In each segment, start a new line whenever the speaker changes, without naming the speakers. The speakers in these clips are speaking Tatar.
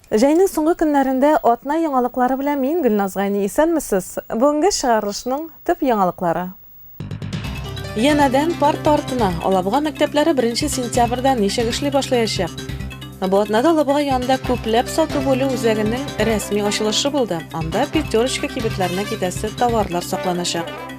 Җәйнең соңгы көннәрендә атна яңалыклары белән мин Гөлназ Гайни. Исәнмесез! Бүгенге чыгарылышның төп яңалыклары. Янәдән парта артына Алабуга мәктәпләре 1 сентябрьдә ничек эшли башлаячак? Бу атнада Алабуга янында күпләп сату бүлү үзәгенең рәсми ачылышы булды. Анда пятерочка кибетләренә китәсе товарлар сакланачак.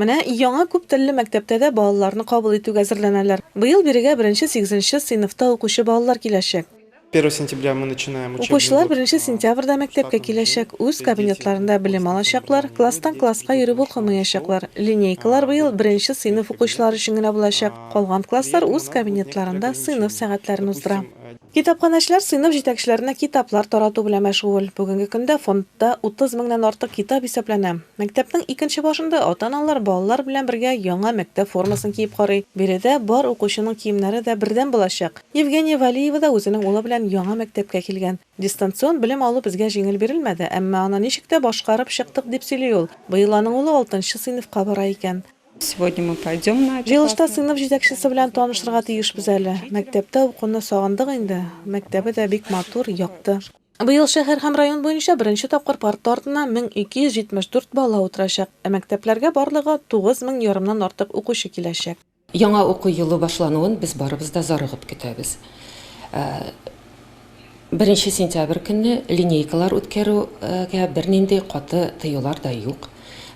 Менә яңа күп телле мәктәптә дә балаларны кабул итүгә әзерләнәләр. Быел бирегә беренче сигезенче сыйныфта укучы балалар киләчәк. Укучылар беренче сентябрьдә мәктәпкә киләчәк, үз кабинетларында белем алачаклар, класстан класска йөреп укымаячаклар. Линейкалар быел беренче сыйныф укучылары өчен генә булачак. Калган класслар үз кабинетларында сыйныф сәгатьләрен уздыра. Китапханәчеләр сыйныф җитәкчеләренә китаплар тарату белән мәшгуль. Бүгенге көндә фондта 30 меңнән артык китап исәпләнә. Мәктәпнең икенче башында ата-аналар балалар белән бергә яңа мәктәп формасын киеп карый. Биредә бар укучының киемнәре дә бердәм булачак. Евгения Вәлиева да үзенең улы белән яңа мәктәпкә килгән. Дистанцион белем алу безгә җиңел бирелмәде, әмма аны ничек тә башкарып чыктык, дип сөйли ул. Быел аның улы алтынчы сыйныфка бара икән. Сегодня мы пойдем на. Җыелышта сыйныф җитәкчесе белән танышырга тиешбез әле. Мәктәптә укуны сагындык инде. Мәктәбе дә бик матур, якты. Быел шәһәр һәм район буенча беренче тапкыр парта артына 1274 бала утырачак, ә мәктәпләргә барлыгы 9 мең ярымнан артык укучы киләчәк. Яңа уку елы башлануын без барыбыз да зарыгып көтәбез. Беренче сентябрь көнне линейкалар үткәрүгә бернинди каты тыюлар да юк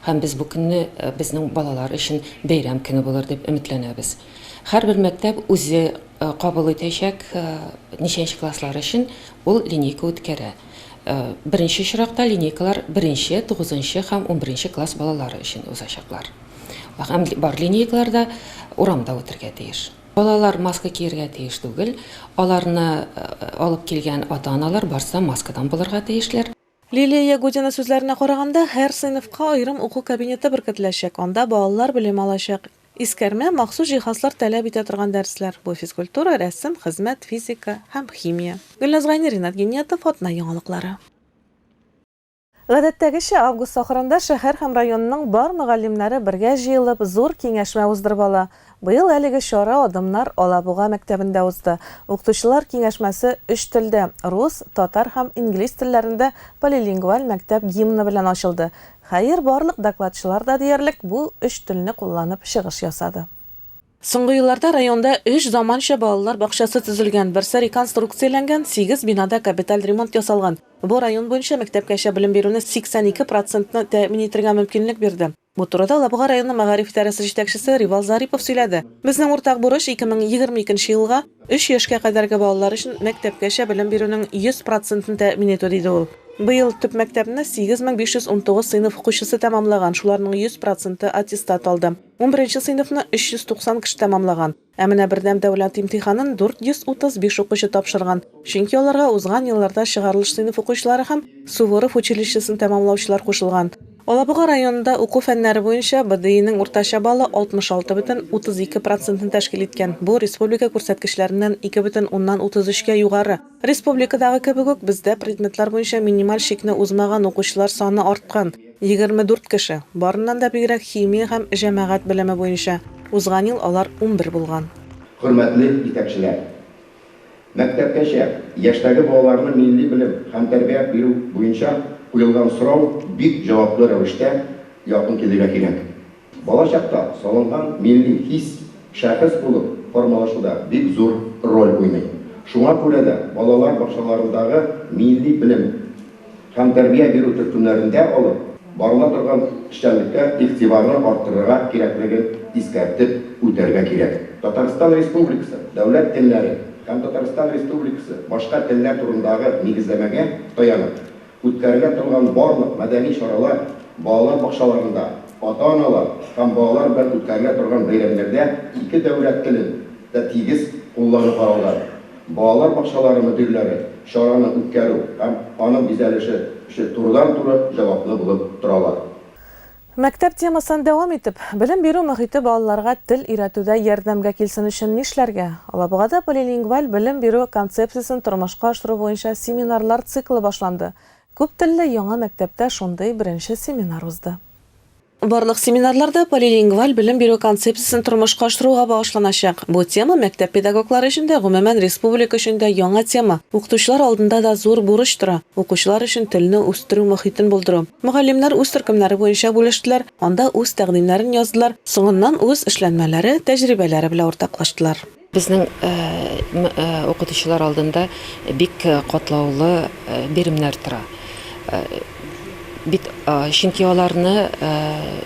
һәм без бу көнне безнең балалар өчен бәйрәм көне булыр дип өметләнәбез. Һәрбер мәктәп үзе кабул итәчәк ничәнче класслар өчен ул линейка үткәрә. Беренче очракта линейкалар беренче, тугызынчы һәм унберенче класс балалары өчен узачаклар. Һәм бар линейкалар да урамда үтергә тиеш. Балалар маска киергә тиеш түгел. Аларны алып килгән ата-аналар барсы да маскадан булырга тиешләр. Лилия Ягудина сүзләренә караганда, һәр сыйныфка аерым уку кабинеты беркетеләчәк, анда балалар белем алачак. Искәрмә, махсус җиһазлар таләп итә торган дәресләр, бу физкультура, рәсем, хезмәт, физика һәм химия. Гөлназ Гайни, Ринат Гиниятов, Атна яңалыклары. Гадәттәгечә, август ахырында шәһәр һәм районның бар мөгаллимнәре бергә җыелып, зур киңәшмә уздырып ала. Быел әлеге чара Адымнар Алабуга мәктәбендә узды. Укытучылар киңәшмәсе өч телдә, рус, татар һәм инглиз телләрендә полилингваль мәктәп гимны белән ачылды. Хәер, барлык докладчылар да диярлек бу өч телне кулланып чыгыш ясады. Соңгы елларда районда өч заманча балалар бакчасы төзелгән, берсе реконструкцияләнгән, сигез бинада капиталь ремонт ясалган. Бу район буенча мәктәпкәчә белем бирүне 82 процентны тәэмин итергә мөмкинлек бирде. Бу турыда Лабуга районы мәгариф идарәсе җитәкчесе Ривал Зарипов сөйләде. Безнең уртак бурыч, 2022 елга өч яшькә кадәрге балалар өчен мәктәпкәчә белем бирүнең 100 процентын тәэмин итү, диде ул. Быел төп мәктәпне 8519 сыйныф укучысы тәмамлаган, шуларның 100 проценты аттестат алды. Унберенче сыйныфны 390 кеше тәмамлаган, ә менә бердәм дәүләт имтиханын 435 укучы тапшырган, чөнки аларга узган елларда чыгарылыш сыйныф укучылары һәм Суворов училищесын тәмамлаучылар кушылган. Алабуга районында уку фәннәре буенча БДИның уртача баллы 66,32 процентны тәшкил иткән, бу республика күрсәткечләреннән ике бөтен уннан утыз өчкә югары. Республикадагы кебек үк, бездә предметлар буенча минималь чикне узмаган укучылар саны арткан, 24 кеше, барыннан да бигрәк химия һәм җәмәгать белеме буенча, узган ел алар унбер булган. Хөрмәтле җитәкчеләр! Мәктәпкәчә яшьтәге балаларны милли белем һәм тәрбия бирү буенча куелган сорау бик җаваплы рәвештә якын килергә кирәк. Балачакта салынган милли хис шәхес булып формалашуда бик зур роль уйный. Шуңа күрә дә балалар бакчаларындагы милли белем һәм тәрбия бирү төркемнәрендә алып барыла торган эшчәнлеккә игътибарны арттырырга кирәклеген искәртеп үтәргә кирәк. Татарстан Республикасы дәүләт телләре һәм Татарстан Республикасы башка телләр турындагы нигезләмәгә таянып, Үткәрелә торган барлык мәдәни чаралар балалар бакчаларында, ата-аналар һәм балалар белән үткәрелә торган бәйрәмнәрдә ике дәүләт телен дә тигез куллану каралган. Балалар бакчалары мөдирләре чараны үткәрү һәм аның бизәлеше өчен турыдан-туры җаваплы булып торалар. Мәктәп темасыннан дәвам итеп, белем бирү мохите балаларга тел өйрәтүдә ярдәмгә килсен өчен нишләргә? Алабугада полилингваль белем бирү концепциясен тормышка ашыру буенча семинарлар циклы башланды. Күптелле яңа мәктәптә шундый беренче семинар узды. Барлык семинарлар да полилингваль белем бирү концепциясен тормышка ашыруга багышланачак. Бу тема мәктәп педагоглары өчен дә, гомумән, республика өчен дә яңа тема. Укытучылар алдында да зур бурыч тора, укучылар өчен телне үстерү мохитен булдыру. Мөгаллимнәр үз төркемнәре буенча бүлештеләр, анда үз тәкъдимнәрен яздылар, соңыннан үз эшләнмәләре, тәҗрибәләре белән уртаклаштылар. Безнең укытучылар алдында бик катлаулы биремнәр тора. Бит чөнки аларны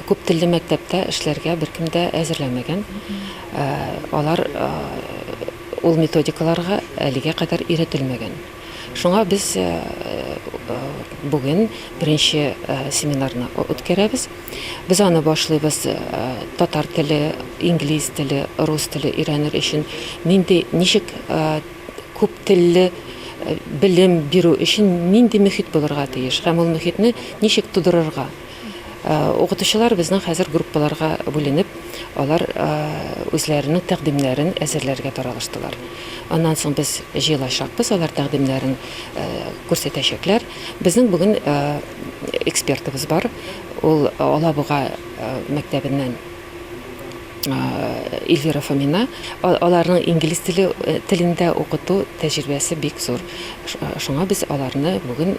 күп телле мәктәптә эшләргә беркем дә әзерләмәгән. Алар ул методикаларга әлегә кадәр өйрәтелмәгән. Шуңа без бүген беренче семинарны үткәрәбез. Без аны башлыйбыз татар теле, инглиз теле, рус теле өйрәнер өчен нинди, ничек күп телле белем бирү өчен нинди мөхит булырга тиеш һәм ул мөхитне ничек тудырырга. Укытучылар безнең хәзер группаларга бүленеп, алар үзләренең тәкъдимнәрен әзерләргә таралыштылар. Аннан соң без җыелачакбыз, алар тәкъдимнәрен күрсәтәчәкләр. Безнең бүген экспертыбыз бар, ул Алабуга мәктәбеннән Эльвира Фомина. Аларның инглиз теле телендә укыту тәҗрибәсе бик зур. Шуңа без аларны бүген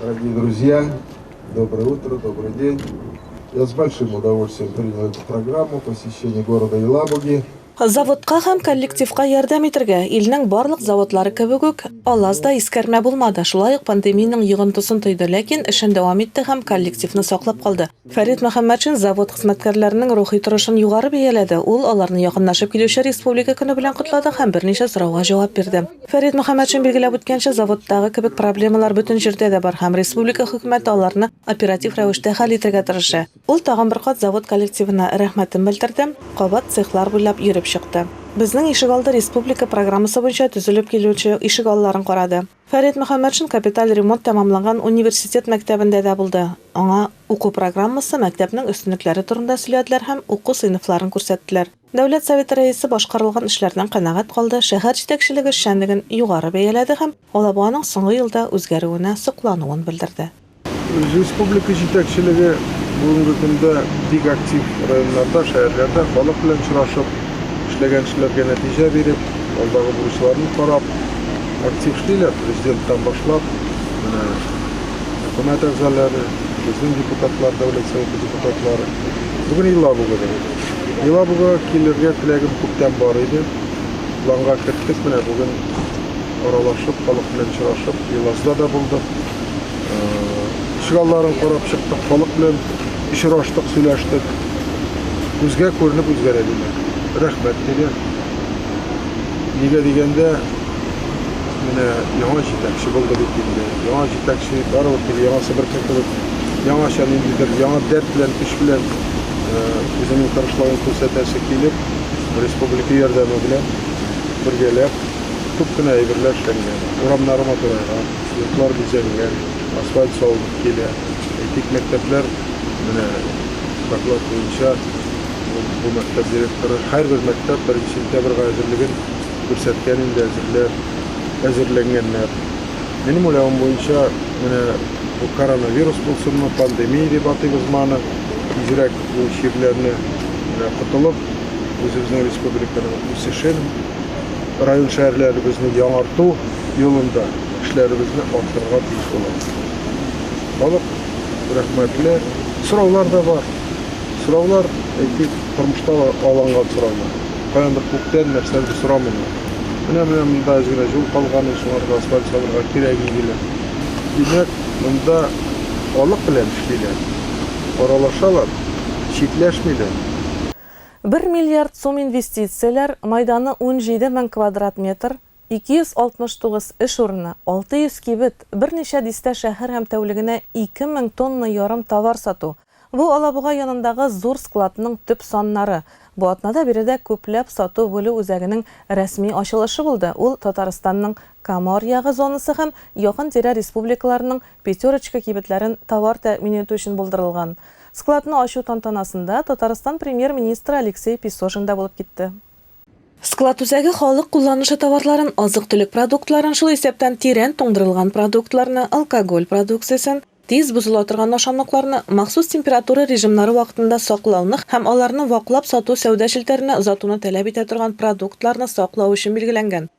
Дорогие друзья, доброе утро, добрый день. Я с большим удовольствием принял эту программу посещения города Елабуги. Заводка һәм коллективка ярдәм итергә, илнең барлык заводлары кебек үк, Алаз да искәрмә булмады. Шулай ук пандемиянең йогынтысын тойды, ләкин эшен дәвам итте һәм коллективны саклап калды. Фәрит Мөхәммәтшин завод хезмәткәрләренең рухи торышын югары бәяләде. Ул аларны якынлашып килүче Республика көне белән котлады һәм берничә сорауга җавап бирде. Фәрит Мөхәммәтшин билгеләп үткәнчә, заводтагы кебек проблемалар бөтен җирдә дә бар һәм республика хөкүмәте аларны оператив рәвештә хәл итәргә тырыша. Ул тагын бер кат завод коллективына рәхмәтен белдерде, кабат цехлар буйлап йөреп чыкты. Безнең ишегалды республика программасы буенча төзелеп килүче ишегалларын карады. Фәрит Мөхәммәтшин капиталь ремонт тәмамланган университет мәктәбендә дә булды, аңа уку программасы, мәктәпнең өстенлекләре турында сөйләделәр һәм уку сыйныфларын күрсәттеләр. Дәүләт Советы Рәисе башкарылган эшләрдән канәгать калды, шәһәр җитәкчелеге эшчәнлеген югары бәяләде һәм Алабуганың соңгы елда үзгәрүенә соклануын белдерде. Республика җитәкчелеге бүгенге көндә бик актив районнарда, шәһәрләрдә халык белән очрашып, эшләгән эшләргә нәтиҗә биреп, алдагы бурычларны карап, актив эшлиләр, президенттан башлап, менә хөкүмәт әгъзалары, безнең депутатлар, Дәүләт Советы депутатлары. Бүген Елабугада. Елабугага килергә теләгем күптән бар иде. Планга керттек, менә бүген аралашып, халык белән очрашып, Елазда да булдык. Ишегалларын карап чыктык, халык белән очраштык, сөйләштек. Күзгә күренеп үзгәрә диләр. Рәхмәт диләр. Нигә дигәндә, менә яңа җитәкче булды бит инде. Яңа җитәкче барыбер теге яңа Себерке кебек яңача ниндидер яңа дәрт белән, көч белән үзенең тырышлыгын күрсәтәсе килеп, республика ярдәме белән бергәләп күп кенә әйберләр эшләнгән. Урамнары матурайган. Йортлар бизәлгән, асфальт салынып килә. Әйтик, мәктәпләр, менә доклад буенча, бу мәктәп директоры һәрбер мәктәп беренче сентябрьгә әзерлеген күрсәткән инде, әзерләр, әзерләнгәннәр. Минем уйлавым буенча, менә бу коронавирус булсынмы, пандемия дип атыйбызмыаны, тизрәк бу чирләрне, менә котылып, үзебезнең республиканың үсешен, район-шәһәрләребезне яңарту юлында эшләребезне арттырырга тиеш булабыз. Халык рәхмәтле. Сораулар да бар. Сораулар, әйтик, тормышта алынган сораулар. Каяндыр күктән нәрсәдер сорамыйлар. Менә менә монда әз генә юл калган, ул шуңарга асфальт салырга кирәк иде диләр. Димәк, монда халык белән эшлиләр, аралашалар, читләшмиләр. Бер миллиард сум инвестицияләр, мәйданы унҗиде мең квадрат метр, 269 эш урыны, 600 кибет, берничә дистә шәһәр һәм тәүлегенә ике мең тонна ярым товар сату, бу Алабуга янындагы зур складның төп саннары. Бу атнада биредә күпләп сату-бүлү үзәгенең рәсми ачылышы булды, ул Татарстанның Камор ягы зонасы һәм якын-тирә республикаларның пятерочка кибетләрен товар тәэмин итү өчен булдырылган. Складны ачу тантанасында Татарстан Премьер-министры Алексей Песожин да булып китте. Склад үзәге халык кулланышы товарларын, азык-төлек продуктларын, шул исәптән тирән туңдырылган продуктларны, алкоголь продукциясен, тиз бозыла торган ашамлыкларны, махсус температура режимнары вакытында саклауны һәм аларны ваклап сату сәүдә челтәренә озатуны таләп итә торган продуктларны саклау өчен билгеләнгән.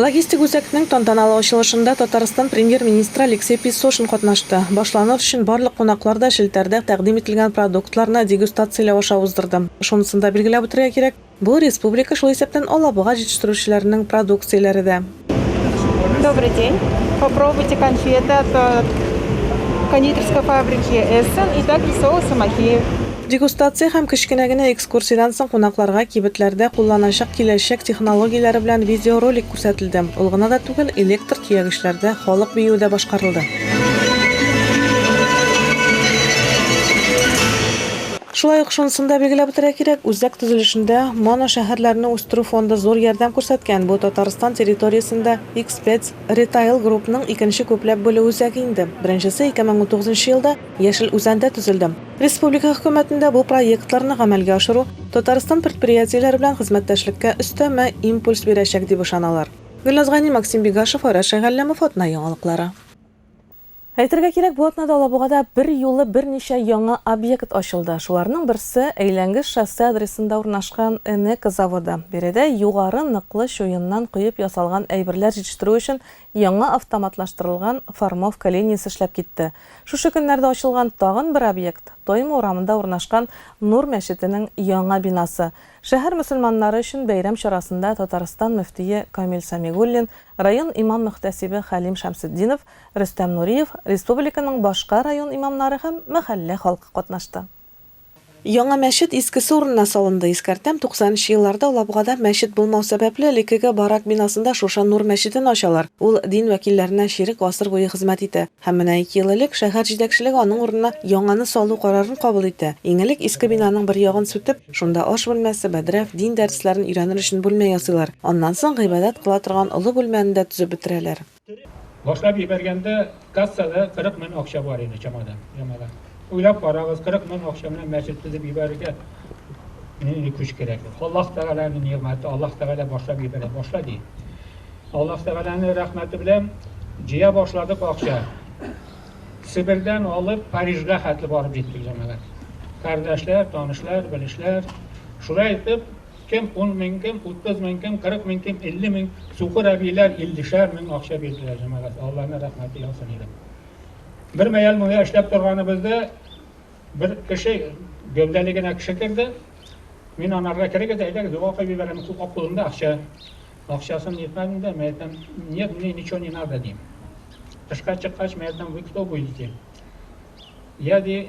Логистик үзәкнең тантаналы ачылышында Татарстан Премьер-министры Алексей Песошин катнашты. Башланыр өчен барлык кунаклар да челтәрдә тәкъдим ителгән продуктларны дегустацияләү аша уздырды. Шунысын да билгеләп үтәргә кирәк, бу, республика, шул исәптән Алабуга җитештерүчеләренең продукцияләре дә. Добрый день! Попробуйте конфеты от кондитерской фабрики Эссен и также соусы Махеев. Дегустация һәм кечкенә генә экскурсия. Экскурсиядән соң кунакларга кибетләрдә кулланачак киләчәк технологияләре белән видеоролик күрсәтелде. Ул гына да түгел, электр төягечләрдә халык биюе дә башкарылды. Шулай ук шунысын да билгеләп үтәргә кирәк, үзәк төзелешендә Моно шәһәрләрне үстерү фонды зур ярдәм күрсәткән. Бу Татарстан территориясендә X-Pets Retail Group-ның икенче күпләп бүлү үзәге инде. Беренчесе 2019 елда Яшел Үзәндә төзелде. Республика Хөкүмәтендә бу проектларны гамәлгә ашыру Татарстан предприятиеләре белән хезмәттәшлеккә өстәмә импульс бирәчәк, дип ышаналар. Гөлназ Гани, Максим Бигашев, Айрат Шәйгалләмов, Атна яңалыклары. Әйтергә кирәк, бу атнада Алабугада берьюлы берничә яңа объект ачылды. Шуларның берсе, Әйләнгеч шоссе адресында урнашкан Энека заводы. Биредә югары ныклы чуеннан коеп ясалган әйберләр җитештерү өчен Яңа автоматлаштырылган формовка линиясе эшләп китте. Шушы көннәрдә ачылган тагын бер объект, Тойма урамында урнашкан Нур мәчетенең яңа бинасы. Шәһәр мөселманнары өчен бәйрәм чарасында Татарстан мөфтие Камил Сәмигуллин, район имам-мөхтәсибе Хәлим Шәмсетдинов, Рөстәм Нуриев, республиканың башка район имамнары һәм мәхәллә халкы катнашты. Яңа мәчет искесе урынына салынды. Искәртәм, 90 нчы елларда Алабугада мәчет булмау сәбәпле, элеккеге барак бинасында Шуша Нур мәчетен ачалар. Ул дин вәкилләренә чирек гасыр буе хезмәт итә. Һәм менә ике ел элек шәһәр җитәкчелеге аның урынына яңаны салу карарын кабул итә. Иң элек иске бинаның бер ягын сүтеп, шунда аш бүлмәсе, бәдрәф, дин дәресләрен өйрәнер өчен бүлмә ясыйлар. Аннан соң гыйбадәт кыла торган олы бүлмәне дә төзеп бетерәләр. Башлап ебәргәндә кассада 40 мең акча бар иде чамада, чамада. Уйлап карагыз, 40 мең акча белән мәчет төзеп ебәрергә нинди көч кирәк? Аллаһ Тәгаләнең нигъмәте, Аллаһ Тәгалә башлап ебәрә, башла ди. Аллаһ Тәгаләнең рәхмәте белән җыя башладык акча. Себердән алып Парижга хәтле барып җиттек җәмәгать. Кардәшләр, танышлар, белешләр. Шулай итеп, Кем ун мең, кем утыз мең, кем кырык мең, кем илле мең, сукыр әбийләр иллешәр мең акча бирделәр, җәмәгать, Аллаһның рәхмәте яусын иде. Бер мәял монда эшләп торганыбызда бер кеше гәүдәле генә кеше керде. Мин анарга керегез, әйдәгез, дога укып җибәрәм, кулында акча. Акчасын нетмәдем дә, мәйтәм, нет, мне ничего не надо, дим. Тышка чыккач, мәйтәм, вы кто будете? Я ди,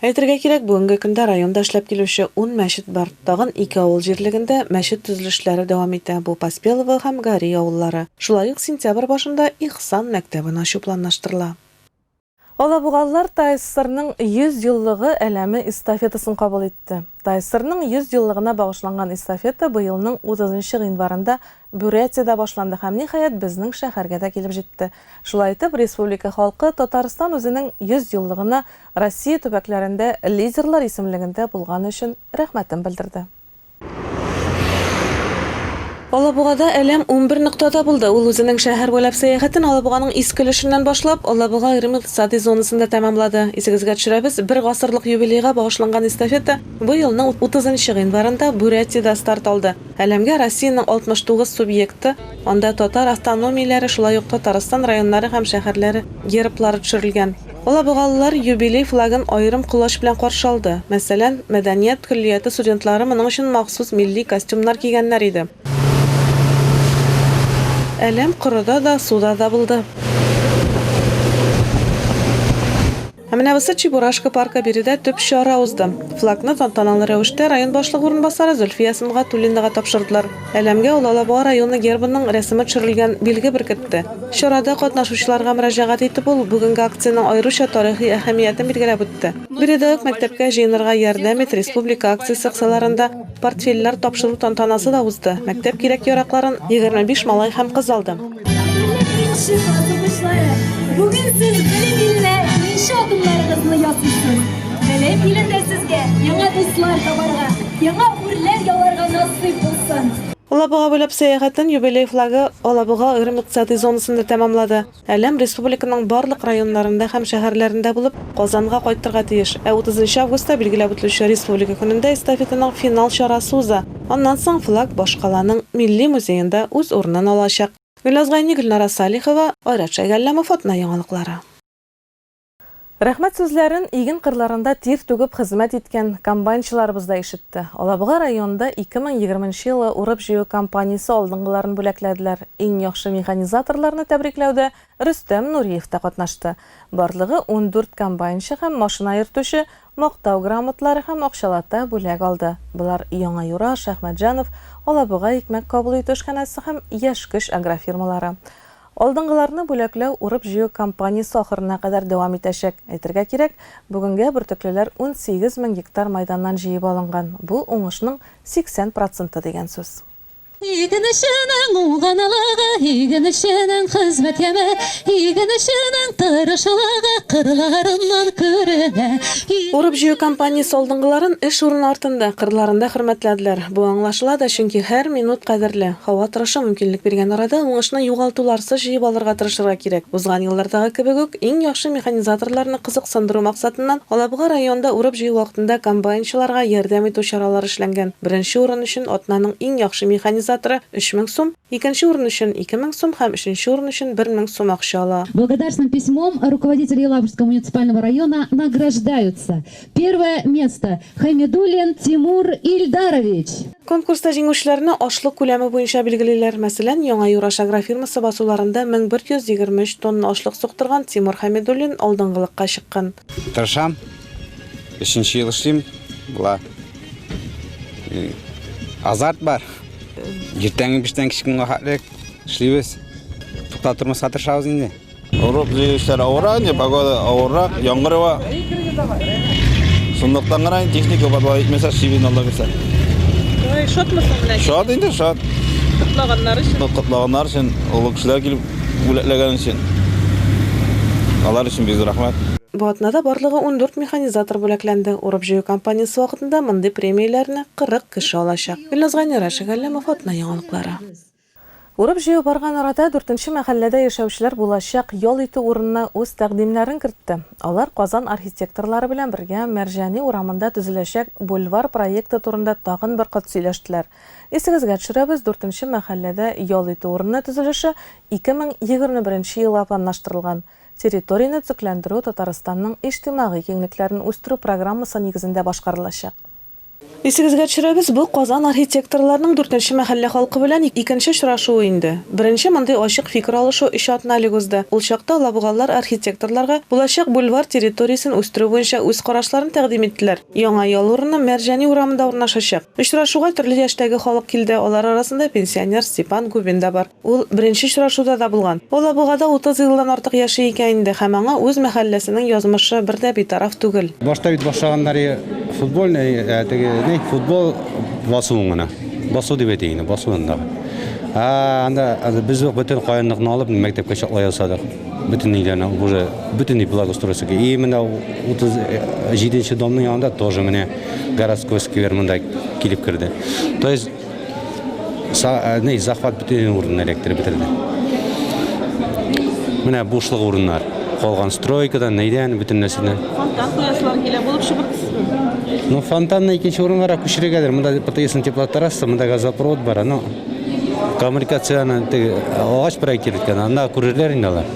Әйтергә кирәк, бүгенге көндә районда эшләп килүче ун мәчет бар. Тагын ике авыл җирлегендә мәчет төзелешләре дәвам итә, бу Поспелово һәм Гари авыллары. Шулай ук сентябрь башында Ихсан мәктәбен ачу планлаштырыла. Алабугалылар ТАССРның 100 еллыгы әләме эстафетасын кабул итте. ТАССРның 100 еллыгына багышланган эстафета быелның 30 нчы гыйнварында Бурятиядә башланды һәм, ниһаять, безнең шәһәргә дә килеп җитте. Шулай итеп, республика халкы Татарстан үзенең 100 еллыгына Россия төбәкләрендә лидерлар исемлегендә булганы өчен рәхмәтен белдерде. Алабугада Әләм унбер ноктада булды. Ул үзенең шәһәр буйлап сәяхәтен Алабуганың иске өлешеннән башлап, Алабуга аерым икътисади зонасында тәмамлады. Исегезгә төшерәбез, бер гасырлык юбилейга багышланган эстафета бу елның утызынчы гыйнварында Бурятиядә старт алды. Әлемгә Россиянең 69 субъекты, анда татар автономияләре, шулай ук Татарстан районнары һәм шәһәрләре герблары төшерелгән. Алабугалылар юбилей флагын аерым колач белән каршы алды. Мәсәлән, мәдәният көллияте студентлары моның өчен махсус милли костюмнар кигәннәр иде. Әлем корыда да, суда да булды. Ә менә бусы Чебурашка паркы биредә төп чара узды. Флагны тантаналы рәвештә район башлыгы урынбасары Зөлфия Сөнгатуллинага тапшырдылар. Әләмгә ул Алабуга районы гербының рәсеме төшерелгән билге беркетте. Чарада катнашучыларга мөрәҗәгать итеп ул бүгенге акциянең аеруча тарихи әһәмиятен билгеләп үтте. Биредә үк Мәктәпкә җыенырга ярдәм ит республика акциясе кысаларында, Портфельләр тапшыру тантанасы да узды. Мәктәп кирәк-яракларын 25 малай һәм кыз алды. Бүген сез белем иленә беренче адымнарыгызны ясыйсыз. Белем илендә сезгә яңа дуслар табарга, яңа үрләр яларга насыйп булсын. Алабуга буйлап сәяхәтен юбилей флагы Алабуга аерым икътисадый зонасында тәмамлады. Әлем республиканың барлык районнарында һәм шәһәрләрендә булып, Казанга кайтырга тиеш. Ә 30 нчы августта билгеләп үтелүче Республика көнендә эстафетаның финал чарасы уза. Аннан соң флаг башкаланың Милли музеенда үз урынын алачак. Гөлназ Гайни, Гөлнара Салихова, Айрат Шәйгалләмов, Атна яңалыклары. Рәхмәт сүзләрен иген кырларында тир түгеп хезмәт иткән комбайнчыларыбыз да ишетте. Алабуга районында 2020 нчы елы урып-җыю кампаниясе алдынгыларын бүләкләделәр. Иң яхшы механизаторларны тәбрикләүдә Рөстәм Нуриев та катнашты. Барлыгы ундүрт комбайнчы һәм машина йөртүче Мактау грамоталары һәм акчалата бүләк алды. Болар Яңа Юра, Шәхмәтҗанов, Алабуга икмәк кабул итү эшханәсе һәм Яшь көч агрофирмалары. Алдынгыларны бүләкләү урып-җыю кампаниясе ахырына кадәр дәвам итәчәк. Әйтергә кирәк, бүгенгә бөртеклеләр унсигез мең гектар майданнан җыеп алынган, бу, уңышның 80 проценты дигән сүз. Игенченең уңганлыгы, игенченең хезмәт яме, игенченең тырышлыгы кырларыннан күренә. Урып-җыю кампаниясе алдынгыларын эш урыны артында, кырларында хөрмәтләделәр. Бу аңлашыла да, чөнки һәр минут кадерле. Һава торышы мөмкинлек биргән арада уңышны югалтуларсыз җыеп алырга тырышырга кирәк. Узган еллардагы кебек үк, иң яхшы механизаторларны кызыксындыру максатыннан, Алабуга районында урып-җыю вакытында комбайнчыларга ярдәм итү чаралары эшләнгән. Беренче урын өчен атнаның иң яхшы механизаторы 3000 сум, икенче урын өчен 2000 сум һәм өченче урын өчен 1000 сум акча ала. Благодарственным письмом руководителя Елабужского муниципального района награждаются, первое место, Хаймедуллин Тимур Ильдарович! Конкурста җиңүчеләрне ашлык күләме буенча билгелиләр. Мәсәлән, Яңа Юраш агрофирмасы басуларында 1123 тонна ашлык суктырган Тимур Хәмидуллин алдынгылыкка чыккан. Тырышам, Өченче ел эшлим. Була. Э, азарт бар. Иртәнге биштән кичкенгә хәтлек эшлибез. Туктап тормаска тырышабыз инде. Урып җыючылар авырак, не погода авырак, яңгыр ва. Сондыктан гына техника барлыгы итмәсә, шибин алла бирсә. Ой, шатмысың менә? Шат инде, шат. Котлаганнар өчен. Котлаганнар өчен, олы кешеләр килеп бүләкләгән өчен. Алар өчен бик рәхмәт. Бу атнада барлыгы ундүрт механизатор бүләкләнде. Урып-җыю кампаниясе вакытында мондый премияләрне кырык кеше алачак. Гөлназ Гайнураш, Шәһәр Галләмов, Атна яңалыклары. Урып-җыю барган арада дүртенче мәхәлләдә яшәүчеләр булачак ял итү урынына үз тәкъдимнәрен кертте. Алар Казан архитекторлары белән бергә Мәрҗани урамында төзеләчәк бульвар проекты турында тагын бер кат сөйләштеләр. Исегезгә төшерәбез, дүртенче мәхәлләдә ял итү урыны төзелеше ике мең егерме беренче елга планлаштырылган. Территорияне төзекләндерү Татарстанның иҗтимагый киңлекләрен үстерү программасы нигезендә башкарылачак. Исегезгә төшерәбез, бу Казан архитекторларының дүртенче мәхәллә халкы белән икенче очрашуы инде. Беренче мондый ачык фикер алышу өч атна элек узды. Ул чакта алабугалылар архитекторларга булачак бульвар территориясен үстерү буенча үз карашларын тәкъдим иттеләр. Яңа ял урыны Мәрҗани урамында урнашачак. Очрашуга төрле яшьтәге халык килде, алар арасында пенсионер Степан Губин да бар. Ул беренче очрашуда да булган. Алабугада утыз елдан артык яши икән инде һәм аңа үз мәхәлләсенең язмышы бер дә битараф түгел. Башта бит башлаганнары футбольный, теге ни, футбол басуын гына. Басу дип әйтик инде, басу анда. Ә анда без үк бөтен каенлыкны алып мәктәпкә чаклы ясадык. Бөтенләй дә аны уже бөтенләй благоустройство. И менә 37 нче домның янында тоже менә городской сквер монда килеп керде. То есть Э, не захват бүтән урын электр бетерде менә бушлык урыннар калган стройкадан нидән бүтән нәрсәдән фонтан кояшлар килә булып чыгып ну фонтанны икенче урынга күчерергәдер монда птсн теплотрасса монда газопровод бар но коммуникацияны теге агач проектир иткән анда күрерләр инде алар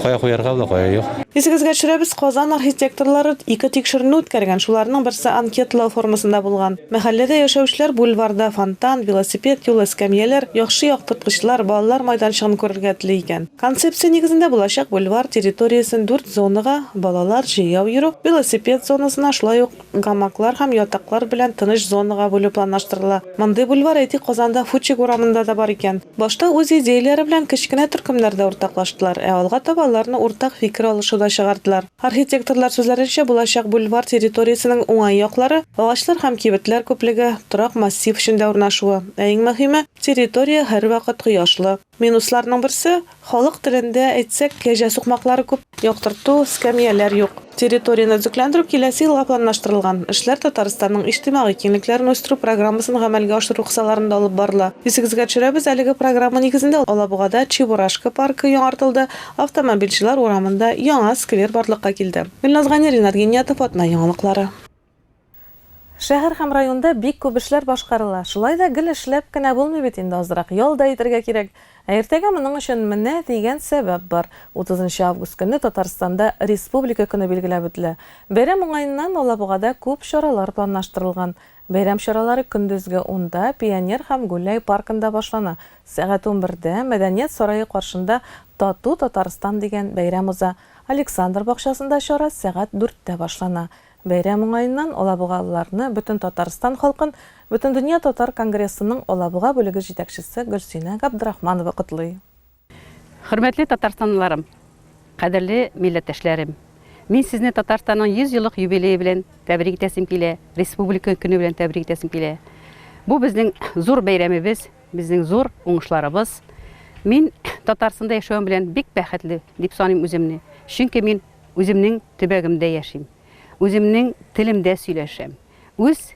кая куярга була кая юк Исегезгә төшерәбез, Казан архитекторлары ике тикшеренү үткәргән. Шуларның берсе анкетлау формасында булган. Мәхәлләдә яшәүчеләр бульварда фонтан, велосипед юлы, эскәмияләр, яхшы яктырткычлар, балалар майданчыгын күрергә тели икән. Концепция нигезендә булачак бульвар территориясен дүрт зонага, балалар, җәяү йөрү, велосипед зонасына, шулай ук гамаклар һәм ятаклар белән тыныч зонага бүлү планлаштырыла. Мондый бульвар, әйтик, Казанда Фучик урамында да бар икән. Башта үз идеяләре белән кечкенә төркемнәрдә уртаклаштылар, ә алга таба аларны уртак фикер алышу да чыгардылар. Архитекторлар сүзләренчә, булачак бульвар территориясенең уңай яклары, агачлар һәм кибетләр күплеге, торак массив эчендә урнашуы, ә иң мөһиме, территория һәрвакыт кояшлы. Минусларның берсе, халык телендә әйтсәк, кәҗә сукмаклары күп, яктырту, эскәмияләр юк. Территорияне төзекләндерү киләсе елга планлаштырылган. Эшләр Татарстанның иҗтимагый киңлекләрен үстерү программасын гамәлгә ашыру кысаларында алып барыла. Исегезгә төшерәбез, әлеге программа нигезендә Алабугада Чебурашка паркы яңартылды, Автомобильчеләр урамында яңа сквер барлыкка килде. Гөлназ Гани, Ринат Гениятов, Атна яңалыклары. Шәһәр һәм районда бик күп эшләр башкарыла. Шулай да гел эшләп кенә булмый бит инде, азрак ял да итәргә кирәк. Ә иртәгә моның өчен менә дигән сәбәп бар. Утызынчы август көнне Татарстанда Республика көне билгеләп үтелә. Бәйрәм уңаеннан Алабугада күп чаралар планлаштырылган. Бәйрәм чаралары көндезге унда Пионер һәм Гуляй паркында башлана. Сәгать унбердә Мәдәният сарае каршында Тату Татарстан дигән бәйрәм уза. Александр бакчасында чара сәгать дүрттә башлана. Бәйрәм уңаеннан алабугалыларны Бөтен Татарстан халкын Бөтендөнья татар конгрессының Алабуга бүлеге җитәкчесе Гөлсинә Габдрахманова котлый. Хөрмәтле татарстанлыларым, кадерле милләттәшләрем! Мин сезне Татарстанның 100 еллык юбилее белән тәбрик итәсем килә, республика көне белән тәбрик итәсем килә. Бу безнең зур бәйрәмебез, безнең зур уңышларыбыз. Мин Татарстанда яшәвем белән бик бәхетле дип саныйм үземне, чөнки мин үземнең төбәгемдә яшим, үземнең телемдә сөйләшәм, үз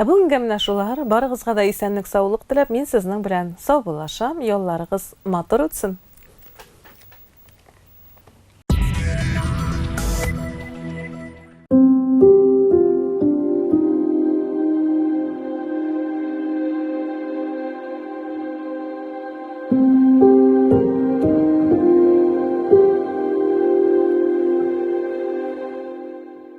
Ә бүгенгә менә шулар, барыгызга да исәнлек саулык теләп, мин сезнең белән саубуллашам, ялларыгыз матур үтсен!